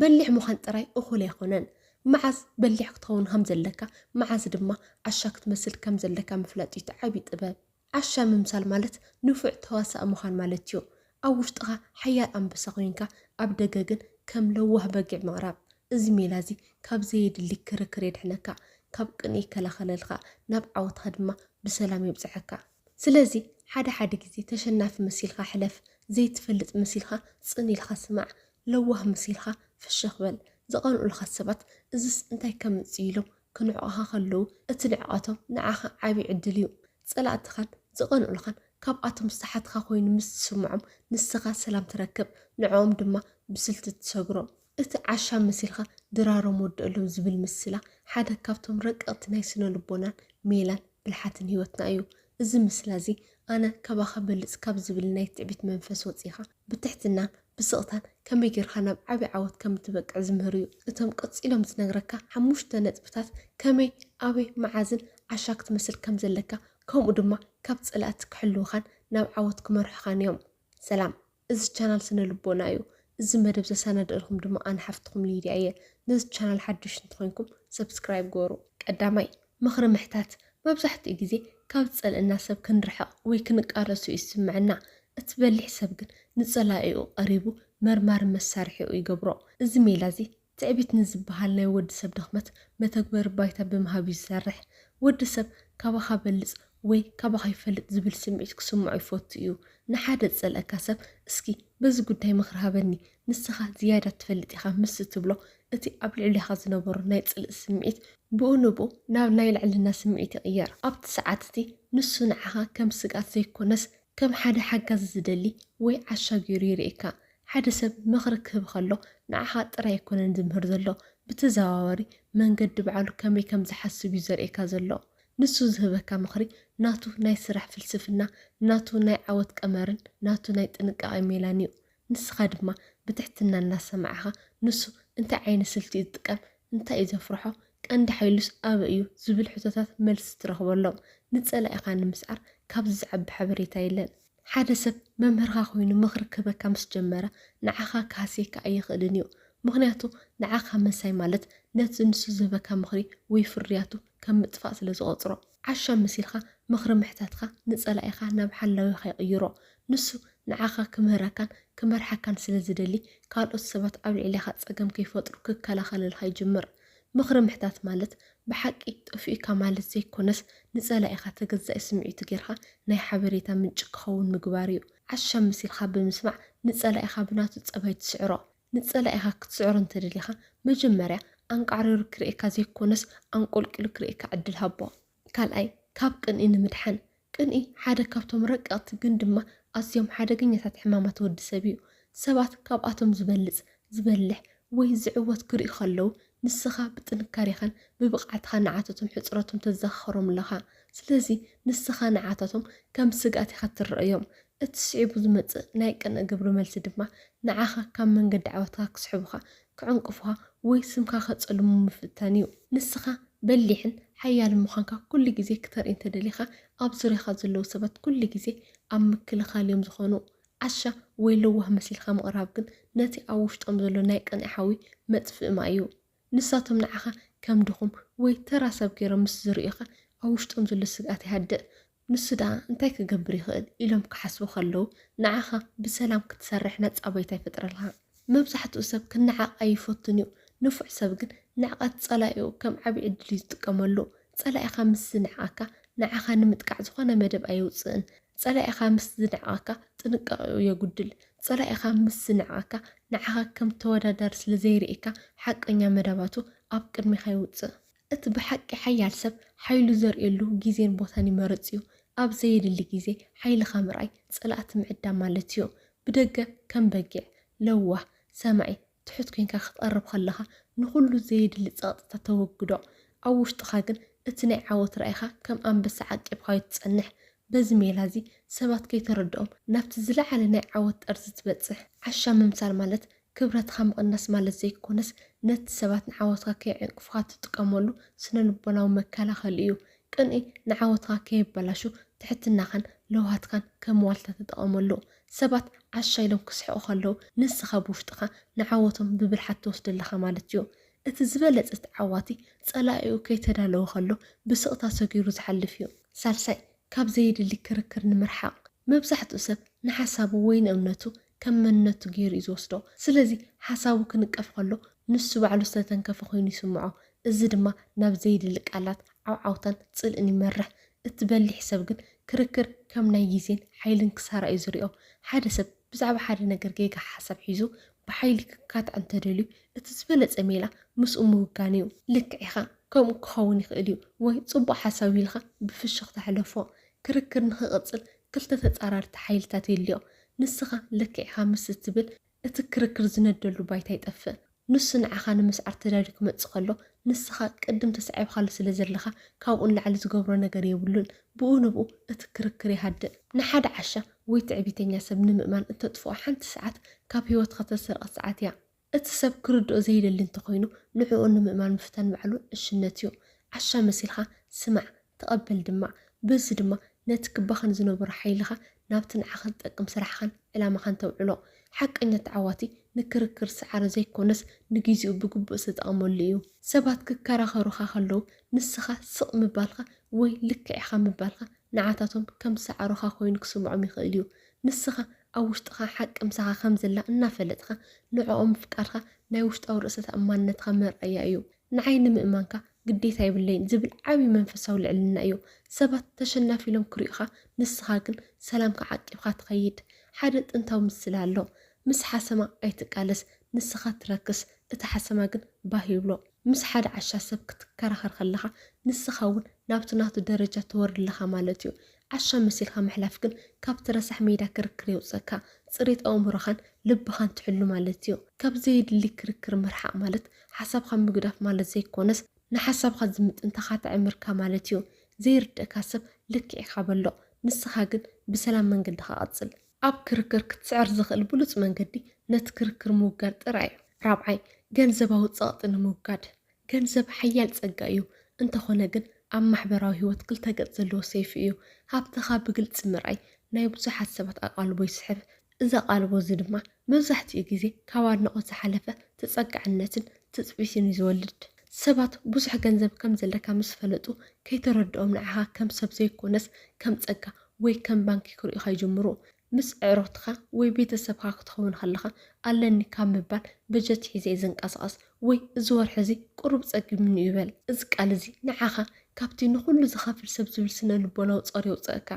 በሊሕ ምዃን ጥራይ እኹል ኣይኮነን። መዓዝ በሊሕ ክትኸውን ከም ዘለካ፣ መዓዝ ድማ ዓሻ ክትመስል ከም ዘለካ ምፍላጥ እዩ እቲ ዓቢ ጥበብ። ዓሻ ምምሳል ማለት ንፉዕ ተዋሳኢ ምዃን ማለት እዩ። ኣብ ውሽጥኻ ሓያል ኣንበሳ ኮይንካ ኣብ ደገ ግን ከም ለዋህ በጊዕ ምቕራብ። እዚ ሜላ እዚ ካብ ዘየድሊ ክርክር የድሕነካ፣ ካብ ቅንኢ ይከላኸለልካ፣ ናብ ዓወትካ ድማ ብሰላም የብጽሓካ። ስለዚ ሓደ ሓደ ግዜ ተሸናፊ መሲልካ ሕለፍ ዘይትፈልጥ መሲልካ ጽን ኢልካ ስማዕ ለዋህ መሲልካ ፍሽኽ በል ዝቀንኡልካ ሰባት እዝስ እንታይ ከምጽእ ኢሎም ክንዕቁኻ ከለዉ እቲ ንዕቀቶም ንዓኻ ዓቢ ዕድል እዩ ጸላእትኻን ዝቀንኡልኻን ካብኣቶም ዝተሓትካ ኮይኑ ምስ ዝስምዖም ንስኻ ሰላም ትረክብ ንዕኦም ድማ ብስልቲ ትሰግሮም። እቲ ዓሻ መሲልካ ድራሮም ወደኣሎም ዝብል ምስላ ሓደ ካብቶም ረቀቕቲ ናይ ስነ ልቦናን ሜላን ብልሓትን ህይወትና እዩ። እዚ ምስላ እዚ ኣነ ካባኻ እበልጽ ካብ ዝብል ናይ ትዕቢት መንፈስ ወጺእኻ ብትሕትናን ብስቕታን ከመይ ጌርካ ናብ ዓቢ ዓወት ከም እትበቅዕ ዝምህር እዩ። እቶም ቀጺሎም ዝነግረካ ሓሙሽተ ነጥብታት ከመይ፣ ኣበይ፣ መዓዝን ዓሻ ክትመስል ከም ዘለካ ከምኡ ድማ ካብ ጸላእቲ ክሕልዉኻን ናብ ዓወት ክመርሑኻን እዮም። ሰላም! እዚ ቻናል ስነ ልቦና እዩ። እዚ መደብ ዘሳናደእልኩም ድማ ኣነ ሓፍትኩም ሊድያ እየ። ነዚ ቻናል ሓዱሽ እንተኮይንኩም ሰብስክራይብ ግበሩ። ቀዳማይ፣ ምኽሪ ምሕታት መብዛሕትኡ ግዜ ካብ ዝጸልእና ሰብ ክንርሕቕ ወይ ክንቃለሶ እዩ ዝስምዐና። እቲ በሊሕ ሰብ ግን ንጸላኢኡ ቀሪቡ መርማሪ መሳርሒኡ ይገብሮ። እዚ ሜላ እዚ ትዕቢት ንዝበሃል ናይ ወዲ ሰብ ድኽመት መተግበሪ ባይታ ብምሃብ እዩ ዝሰርሕ። ወዲ ሰብ ካባኻ እበልጽ ወይ ካባኻ ይፈልጥ ዝብል ስምዒት ክስምዖ ይፈቱ እዩ። ንሓደ ዝጸልኣካ ሰብ እስኪ በዚ ጉዳይ ምኽሪ ሃበኒ፣ ንስኻ ዝያዳ ትፈልጥ ኢኻ ምስ እትብሎ፣ እቲ ኣብ ልዕሌኻ ዝነበሮ ናይ ጽልኢ ስምዒት፣ ብኡ ንብኡ ናብ ናይ ልዕልና ስምዒት ይቕየር። ኣብቲ ሰዓት እቲ ንሱ ንዓኻ ከም ስግኣት ዘይኮነስ ከም ሓደ ሓጋዚ ዝደሊ ወይ ዓሻ ገይሩ የርእየካ። ሓደ ሰብ ምኽሪ ክህብ ከሎ ንዓኻ ጥራይ ኣይኮነን ዝምህር ዘሎ፣ ብተዘዋዋሪ መንገዲ ባዕሉ ከመይ ከም ዝሓስብ እዩ ዘርእየካ ዘሎ። ንሱ ዝህበካ ምኽሪ ናቱ ናይ ስራሕ ፍልስፍና፣ ናቱ ናይ ዓወት ቀመርን ናቱ ናይ ጥንቃቐ ሜላን እዩ። ንስኻ ድማ ብትሕትና እናሰማዕኻ ንሱ እንታይ ዓይነት ስልቲ እዩ ዝጥቀም፣ እንታይ እዩ ዘፍርሖ፣ ቀንዲ ሓይሉስ ኣበይ እዩ ዝብል ሕቶታት መልሲ ትረኽበሎም። ንጸላኢኻ ንምስዓር ካብዚ ዝዓቢ ሓበሬታ የለን። ሓደ ሰብ መምህርኻ ኮይኑ ምኽሪ ክህበካ ምስ ጀመረ ንዓኻ ክሃስየካ ኣይኽእልን እዩ። ምኽንያቱ ንዓኻ ምንሳይ ማለት ነቲ ንሱ ዝህበካ ምኽሪ ወይ ፍርያቱ ከም ምጥፋእ ስለ ዝቖጽሮ። ዓሻ መሲልካ ምኽሪ ምሕታትካ ንጸላኢኻ ናብ ሓላዊኻ ይቕይሮ። ንሱ ንዓኻ ክምህረካን ክመርሓካን ስለ ዝደሊ ካልኦት ሰባት ኣብ ልዕሌኻ ጸገም ከይፈጥሩ ክከላኸለልካ ይጅምር። ምኽሪ ምሕታት ማለት ብሓቂ ጠፊኡካ ማለት ዘይኮነስ ንጸላኢኻ ተገዛኢ ስምዒቱ ጌርካ ናይ ሓበሬታ ምንጪ ክኸውን ምግባር'ዩ። ዓሻ መሲልካ ብምስማዕ ንጸላኢኻ ብናቱ ጸባይ ትስዕሮ። ንጸላኢኻ ክትስዕሮ እንተደሊኻ መጀመርያ ኣንቃዕሪሩ ክርእየካ ዘይኮነስ ኣንቆልቂሉ ክርእየካ ዕድል ሃቦ። ካልኣይ፣ ካብ ቅንኢ ንምድሓን። ቅንኢ ሓደ ካብቶም ረቀቕቲ ግን ድማ ኣዝዮም ሓደገኛታት ሕማማት ወዲ ሰብ እዩ። ሰባት ካብኣቶም ዝበልጽ፣ ዝበልሕ ወይ ዝዕወት ክርእዩ ከለዉ ንስኻ ብጥንካሬኻን ብብቕዓትኻን ንዓታቶም ሕጽረቶም ተዘኻኽሮም ኣለኻ። ስለዚ ንስኻ ንዓታቶም ከም ስግኣት ኢኻ እትረኣዮም። እቲ ስዒቡ ዝመጽእ ናይ ቅንእ ግብረ መልሲ ድማ ንዓኻ ካብ መንገዲ ዓወትካ ክስሕቡኻ፣ ክዕንቅፉኻ ወይ ስምካ ከጸልሙ ምፍታን እዩ። ንስኻ በሊሕን ሓያልን ምዃንካ ኩሉ ግዜ ክተርኢ እንተደሊኻ፣ ኣብ ዙርያኻ ዘለዉ ሰባት ኩሉ ግዜ ኣብ ምክልኻል እዮም ዝኾኑ። ዓሻ ወይ ለዋህ መሲልካ ምቕራብ ግን ነቲ ኣብ ውሽጦም ዘሎ ናይ ቅንኢ ሓዊ መጥፍኢ ማይ እዩ። ንሳቶም ንዓኻ ከም ድኹም ወይ ተራ ሰብ ገይሮም ምስ ዝርእዩኻ ኣብ ውሽጦም ዘሎ ስግኣት ይሃድእ። ንሱ ደኣ እንታይ ክገብር ይኽእል ኢሎም ክሓስቡ ከለዉ ንዓኻ ብሰላም ክትሰርሕ ነጻ ባይታ ይፈጥረልካ። መብዛሕትኡ ሰብ ክነዓቕ ኣይፈቱን እዩ። ንፉዕ ሰብ ግን ንዕቀት ጸላኢኡ ከም ዓቢ ዕድል እዩ ዝጥቀመሉ። ጸላኢኻ ምስ ዝንዕቐካ ንዓኻ ንምጥቃዕ ዝኾነ መደብ ኣየውጽእን። ጸላኢኻ ምስ ዝንዕቐካ ጥንቃቄኡ የጉድል። ጸላኢኻ ምስ ዝንዕቐካ ንዓኻ ከም ተወዳዳሪ ስለ ዘይርእየካ ሓቀኛ መደባቱ ኣብ ቅድሜኻ የውጽእ። እቲ ብሓቂ ሓያል ሰብ ሓይሉ ዘርእየሉ ግዜን ቦታን ይመርጽ እዩ። ኣብ ዘየድሊ ግዜ ሓይልኻ ምርኣይ ጸላእቲ ምዕዳም ማለት እዩ። ብደገ ከም በጊዕ፣ ለዋህ፣ ሰማዒ፣ ትሑት ኴንካ ክትቐርብ ከለኻ ንኹሉ ዘየድሊ ጸቕጥታት ተወግዶ። ኣብ ውሽጥኻ ግን እቲ ናይ ዓወት ራኢኻ ከም ኣንበሳ ዓቂብካዮ ትጸንሕ። በዚ ሜላ እዚ ሰባት ከይተረድኦም ናብቲ ዝለዓለ ናይ ዓወት ጠርዚ ትበጽሕ። ዓሻ ምምሳል ማለት ክብረትካ ምቕናስ ማለት ዘይኮነስ፣ ነቲ ሰባት ንዓወትካ ከየዕንቅፉኻ ትጥቀመሉ ስነ-ልቦናዊ መከላኸሊ እዩ። ቅንኢ ንዓወትካ ከየበላሹ ትሕትናኻን ለውሃትካን ከም ዋልታ ተጠቐመሉ። ሰባት ዓሻ ኢሎም ክስሕቑ ከለዉ፣ ንስኻ ብውሽጥኻ ንዓወቶም ብብልሓት ትወስዶ ኣለኻ ማለት እዩ። እቲ ዝበለጸ ተዓዋቲ፣ ጸላኢኡ ከይተዳለወ ከሎ ብስቕታ ሰጊሩ ዝሓልፍ እዩ። ሳልሳይ፣ ካብ ዘየድሊ ክርክር ንምርሓቕ። መብዛሕትኡ ሰብ ንሓሳቡ ወይ ንእምነቱ ከም መንነቱ ገይሩ እዩ ዝወስዶ። ስለዚ ሓሳቡ ክንቀፍ ከሎ ንሱ ባዕሉ ዝተተንከፈ ኮይኑ ይስምዖ። እዚ ድማ ናብ ዘየድሊ ቃላት፣ ዓውዓውታን ጽልእን ይመርሕ። እቲ በሊሕ ሰብ ግን ክርክር ከም ናይ ግዜን ሓይልን ክሳራ እዩ ዝሪኦ። ሓደ ሰብ ብዛዕባ ሓደ ነገር ጌጋ ሓሳብ ሒዙ ብሓይሊ ክካታዕ እንተደልዩ እቲ ዝበለጸ ሜላ ምስኡ ምውጋን እዩ። ልክዕ ኢኻ ከምኡ ክኸውን ይኽእል እዩ ወይ ጽቡቕ ሓሳብ እዩ ኢልካ ብፍሽኽታ ሕለፎ። ክርክር ንኽቕጽል ክልተ ተጻራርቲ ሓይልታት ይልዮ። ንስኻ ልክዕ ኢኻ ምስ እትብል እቲ ክርክር ዝነደሉ ባይታ ይጠፍእ። ንሱ ንዓኻ ንምስዓር ተዳልዩ ክመጽእ ከሎ፣ ንስኻ ቅድም ተሳዒብካሉ ስለ ዘለኻ ካብኡ ንላዕሊ ዝገብሮ ነገር የብሉን። ብኡ ንብኡ እቲ ክርክር ይሃድእ። ንሓደ ዓሻ ወይ ትዕቢተኛ ሰብ ንምእማን እተጥፍኦ ሓንቲ ሰዓት ካብ ህይወትካ እተሰርቐት ሰዓት እያ። እቲ ሰብ ክርድኦ ዘይደሊ እንተኾይኑ ንዕኡ ንምእማን ምፍታን ባዕሉ ዕሽነት እዩ። ዓሻ መሲልካ ስማዕ፣ ተቐበል ድማ። በዚ ድማ ነቲ ክባኸን ዝነበሮ ሓይልኻ ናብቲ ንዓኻ ዝጠቅም ስራሕኻን ዕላማኻን ተውዕሎ። ሓቀኛ ተዓዋቲ ንክርክር ዝሰዓረ ዘይኮነስ ንጊዚኡ ብግቡእ ዝተጠቐመሉ እዩ። ሰባት ክከራኸሩኻ ከለዉ ንስኻ ስቕ ምባልካ ወይ ልክዕ ኢኻ ምባልካ ንዓታቶም ከም ዝሰዓሩኻ ኮይኑ ክስምዖም ይኽእል እዩ። ንስኻ ኣብ ውሽጥኻ ሓቂ ምሳኻ ከም ዘላ እናፈለጥካ ንዕኦም ምፍቃርካ ናይ ውሽጣዊ ርእሰ ተኣማንነትካ መርኣያ እዩ። ንዓይ ንምእማንካ ግዴታ የብለይን ዝብል ዓቢ መንፈሳዊ ልዕልና እዩ። ሰባት ተሸናፊ ኢሎም ክሪኡኻ ንስኻ ግን ሰላምካ ዓቂብካ ትኸይድ። ሓደ ጥንታዊ ምስላ ኣሎ ምስ ሓሰማ ኣይትቃለስ ንስኻ ትረክስ እቲ ሓሰማ ግን ባህ ይብሎ። ምስ ሓደ ዓሻ ሰብ ክትከራኸር ከለኻ ንስኻ እውን ናብቲ ናቱ ደረጃ ትወርድ ኣለኻ ማለት እዩ። ዓሻ መሲልካ ምሕላፍ ግን ካብቲ ረሳሕ ሜዳ ክርክር የውጽእካ፣ ጽሬት ኣእምሮኻን ልብኻን ትሕሉ ማለት'ዩ። ካብ ዘየድሊ ክርክር ምርሓቕ ማለት ሓሳብካ ምግዳፍ ማለት ዘይኮነስ ንሓሳብካ ዝምጥን ተኻታዒ ምርካብ ማለት'ዩ። ዘይርድእካ ሰብ ልክዕ ኢኻ በሎ፣ ንስኻ ግን ብሰላም መንገድኻ ቀጽል። ኣብ ክርክር ክትስዕር ዝኽእል ብሉጽ መንገዲ ነቲ ክርክር ምውጋድ ጥራይ'ዩ። ራብዓይ፣ ገንዘባዊ ጸቕጢ ንምውጋድ ገንዘብ ሓያል ጸጋ እዩ፣ እንተኾነ ግን ኣብ ማሕበራዊ ህይወት ክልተ ገጽ ዘለዎ ሰይፊ እዩ። ሃብትኻ ብግልጺ ምርኣይ ናይ ብዙሓት ሰባት ኣቓልቦ ይስሕብ፣ እዚ ኣቓልቦ እዚ ድማ መብዛሕትኡ ግዜ ካብ ኣድናቖት ዝሓለፈ ተጸጋዕነትን ትጽቢትን እዩ ዝወልድ። ሰባት ብዙሕ ገንዘብ ከም ዘለካ ምስ ፈለጡ፣ ከይተረድኦም ንዓኻ ከም ሰብ ዘይኮነስ ከም ጸጋ ወይ ከም ባንኪ ክርእዩኻ ይጅምሩ። ምስ ኣዕሩኽትኻ ወይ ቤተሰብካ ክትኸውን ከለኻ፣ ኣለኒ ካብ ምባል በጀት ሒዘ'የ ዝንቀሳቐስ ወይ እዚ ወርሒ እዚ ቁሩብ ጸጊሙኒ'ዩ በል። እዚ ቃል እዚ ንዓኻ ካብቲ ንኹሉ ዝኸፍል ሰብ ዝብል ስነ-ልቦናዊ ጾር የውጽኣካ።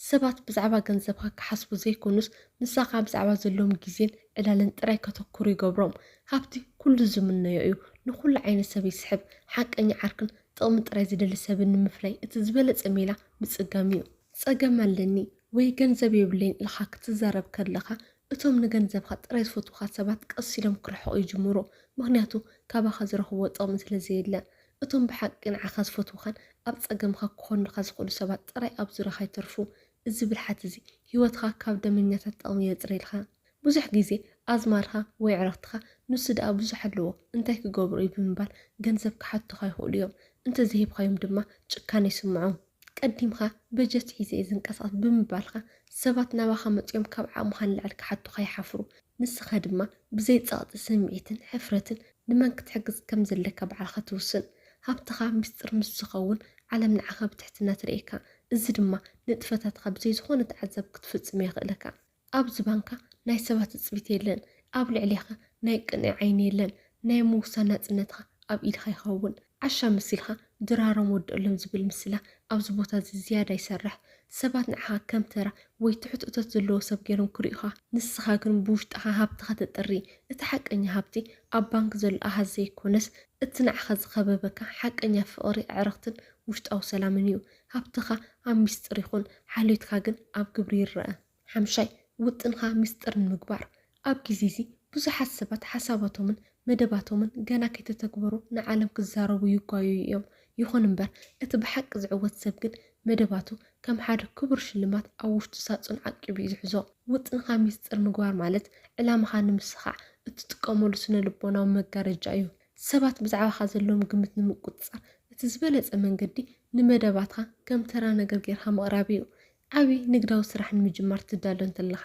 ሰባት ብዛዕባ ገንዘብካ ክሓስቡ ዘይኮኑስ ምሳኻ ብዛዕባ ዘለዎም ግዜን ዕላልን ጥራይ ከተኩሩ ይገብሮም። ሃብቲ ኩሉ ዝምነዮ እዩ፣ ንኹሉ ዓይነት ሰብ ይስሕብ። ሓቀኛ ዓርክን ጥቕሚ ጥራይ ዝደሊ ሰብን ንምፍራይ እቲ ዝበለጸ ሜላ ምጽጋም'ዩ። ጸገም ኣለኒ ወይ ገንዘብ የብለይን ኢልካ ክትዛረብ ከለካ እቶም ንገንዘብካ ጥራይ ዝፈትዉካ ሰባት ቀስ ኢሎም ክርሕቁ ይጅምሩ ምክንያቱ ካባካ ዝረክብዎ ጥቅሚ ስለ ዘየለ እቶም ብሓቂ ንዓካ ዝፈትዉካን ኣብ ጸገምካ ክኮኑልካ ዝክእሉ ሰባት ጥራይ ኣብ ዙርያካ ይተርፉ እዚ ብልሓት እዚ ሂወትካ ካብ ደመኛታት ጥቅሚ የጽርየልካ። ብዙሕ ግዜ ኣዝማድካ ወይ ኣዕርኽትኻ ንሱ ደኣ ብዙሕ ኣለዎ እንታይ ክገብሩ እዩ ብምባል ገንዘብ ክሓቱኻ ይኽእሉ እዮም። እንተዘይሂብካዮም ድማ ጭካነ ይስምዖም። ቀዲምካ በጀት ሒዘ እየ ዝንቀሳቐስ ብምባልካ ሰባት ናባኻ መጺኦም ካብ ዓቕምኻ ንላዕሊ ክሓቱኻ ይሓፍሩ። ንስኻ ድማ ብዘይ ጸቕጢ ስምዒትን ሕፍረትን ንመን ክትሕግዝ ከም ዘለካ ባዕልኻ ትውስን። ሃብትኻ ምስጢር ምስ ዝኸውን ዓለም ንዓኻ ብትሕትና ትርእየካ። እዚ ድማ ንጥፈታትካ ብዘይ ዝኾነ ተዓዛቢ ክትፍጽም የኽእለካ። ኣብ ዝባንካ ናይ ሰባት ትጽቢት የለን፣ ኣብ ልዕሌኻ ናይ ቅንኢ ዓይኒ የለን፣ ናይ ምውሳን ናጽነትኻ ኣብ ኢድኻ ይኸውን። ዓሻ መሲልካ ድራሮም ወድእሎም ዝብል ምስላ ኣብዚ ቦታዚ ዝያዳ ይሰርሕ። ሰባት ንዓኻ ከም ተራ ወይ ትሑት እቶት ዘለዎ ሰብ ገይሮም ክርእዩኻ፣ ንስኻ ግን ብውሽጥኻ ሃብትኻ ተጥሪ። እቲ ሓቀኛ ሃብቲ ኣብ ባንክ ዘሎ ኣሃዝ ዘይኮነስ፣ እቲ ንዓኻ ዝኸበበካ ሓቀኛ ፍቕሪ፣ ኣዕርኽትን ውሽጣዊ ሰላምን እዩ። ሃብትኻ ኣብ ሚስጥር ይኹን፣ ሓልዮትካ ግን ኣብ ግብሪ ይረኣ። ሓምሻይ፣ ውጥንካ ሚስጥር ንምግባር። ኣብ ግዜ እዚ ብዙሓት ሰባት ሓሳባቶምን መደባቶምን ገና ከይተተግበሩ ንዓለም ክዛረቡ ይጓየዩ እዮም። ይኹን እምበር እቲ ብሓቂ ዝዕወት ሰብ ግን መደባቱ ከም ሓደ ክቡር ሽልማት ኣብ ውሽጡ ሳጹን ዓቂቡ እዩ ዝሕዞ። ውጥንካ ሚስጥር ምግባር ማለት ዕላማኻ ንምስኻዕ እትጥቀመሉ ስነ-ልቦናዊ መጋረጃ እዩ። ሰባት ብዛዕባኻ ዘለዎም ግምት ንምቁጽጻር እቲ ዝበለጸ መንገዲ ንመደባትካ ከም ተራ ነገር ጌርካ ምቕራብ እዩ። ዓቢ ንግዳዊ ስራሕ ንምጅማር ትዳሎ እንተለኻ፣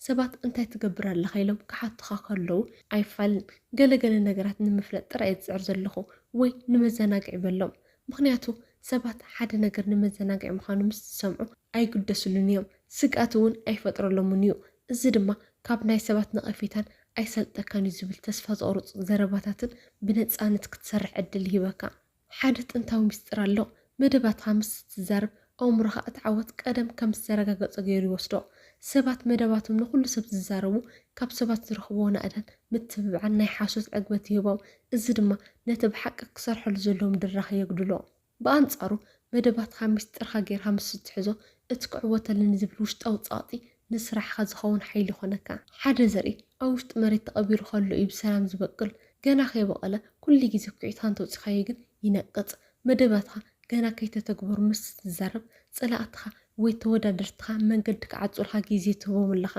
ሰባት እንታይ ትገብር ኣለኻ ኢሎም ክሓቱኻ ከለዉ ኣይፋልን፣ ገለ ገለ ነገራት ንምፍላጥ ጥራይ እየ ዝጽዕር ዘለኹ ወይ ንመዘናግዒ በሎም። ምኽንያቱ ሰባት ሓደ ነገር ንመዘናግዒ ምዃኑ ምስ ዝሰምዑ ኣይግደስሉን እዮም፣ ስግኣት እውን ኣይፈጥረሎምን እዩ። እዚ ድማ ካብ ናይ ሰባት ነቐፌታን ኣይሰልጠካን እዩ ዝብል ተስፋ ዘቑርጽ ዘረባታትን ብነጻነት ክትሰርሕ ዕድል ይህበካ። ሓደ ጥንታዊ ምስጢር ኣሎ፣ መደባትካ ምስ እትዛረብ፣ ኣእምሮኻ እቲ ዓወት ቀደም ከም ዝተረጋገጸ ገይሩ ይወስዶ። ሰባት መደባቶም ንኹሉ ሰብ ዝዛረቡ፣ ካብ ሰባት ዝረኽብዎ ናእዳን ምትብባዕን ናይ ሓሶት ዕግበት ይህቦም፣ እዚ ድማ ነቲ ብሓቂ ክሰርሐሉ ዘለዎም ድራኸ የጉድሎ። ብኣንጻሩ መደባትካ ሚስጢርካ ጌርካ ምስ እትሕዞ፣ እቲ ክዕወተሉ ንዝብል ውሽጣዊ ጸቕጢ ንስራሕካ ዝኸውን ሓይሊ ይኾነካ። ሓደ ዘርኢ ኣብ ውሽጢ መሬት ተቐቢሩ ከሎ እዩ ብሰላም ዝበቅል። ገና ከይበቐለ ኩሉ ግዜ ኩዒትካ እንተውጺኻዮ ግን ይነቅጽ። መደባትካ ገና ከይተተግበሩ ምስ እትዛረብ፣ ጸላእትኻ ወይ ተወዳደርትኻ መንገዲ ክዓጹልካ ግዜ ትህቦም ኣለኻ።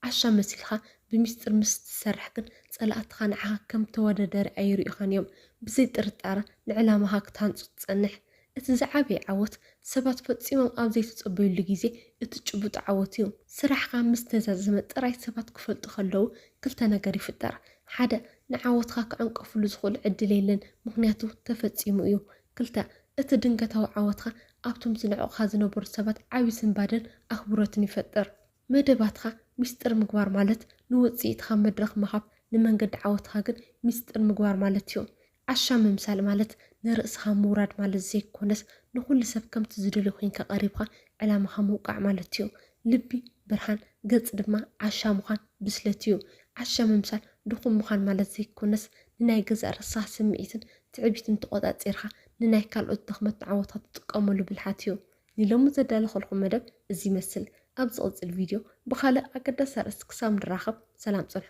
ዓሻ መሲልካ ብሚስጥር ምስ እትሰርሕ ግን ጸላእትኻ ንዓኻ ከም ተወዳዳሪ ኣይሪኡኻን እዮም። ብዘይ ጥርጣረ ንዕላማኻ ክትሃንጹ ትጸንሕ። እቲ ዝዓበየ ዓወት፣ ሰባት ፈጺሞም ኣብ ዘይተጸበዩሉ ግዜ እትጭብጦ ዓወት እዩ። ስራሕካ ምስ ተዛዘመ ጥራይ ሰባት ክፈልጡ ከለዉ ክልተ ነገር ይፍጠር፣ ሓደ፣ ንዓወትካ ክዕንቀፍሉ ዝኽእሉ ዕድል የለን ምኽንያቱ ተፈጺሙ እዩ። ክልተ፣ እቲ ድንገታዊ ዓወትካ ኣብቶም ዝንዕቑኻ ዝነበሩ ሰባት ዓቢ ስንባደን ኣኽብሮትን ይፈጥር። መደባትካ ሚስጥር ምግባር ማለት ንውጽኢትካ መድረኽ ምሃብ ንመንገዲ ዓወትካ ግን ሚስጥር ምግባር ማለት እዩ። ዓሻ ምምሳል ማለት ንርእስካ ምውራድ ማለት ዘይኮነስ ንኩሉ ሰብ ከምቲ ዝደልዮ ኮንካ ቀሪብካ ዕላማካ ምውቃዕ ማለት እዩ። ልቢ ብርሃን ገጽ ድማ ዓሻ ምዃን ብስለት እዩ። ዓሻ ምምሳል ድኹም ምዃን ማለት ዘይኮነስ ንናይ ገዛእ ርእስካ ስምዒትን ትዕቢትን ተቆጻጺርካ ንናይ ካልኦት ድኽመትን ዓወታት ትጥቀመሉ ብልሓት እዩ። ንሎሚ ዘዳለኹልኩም መደብ እዚ ይመስል። ኣብ ዝቕጽል ቪድዮ ብኻልእ ኣገዳሲ ኣርእስቲ ክሳብ ንራኸብ ሰላም ጽንሑ።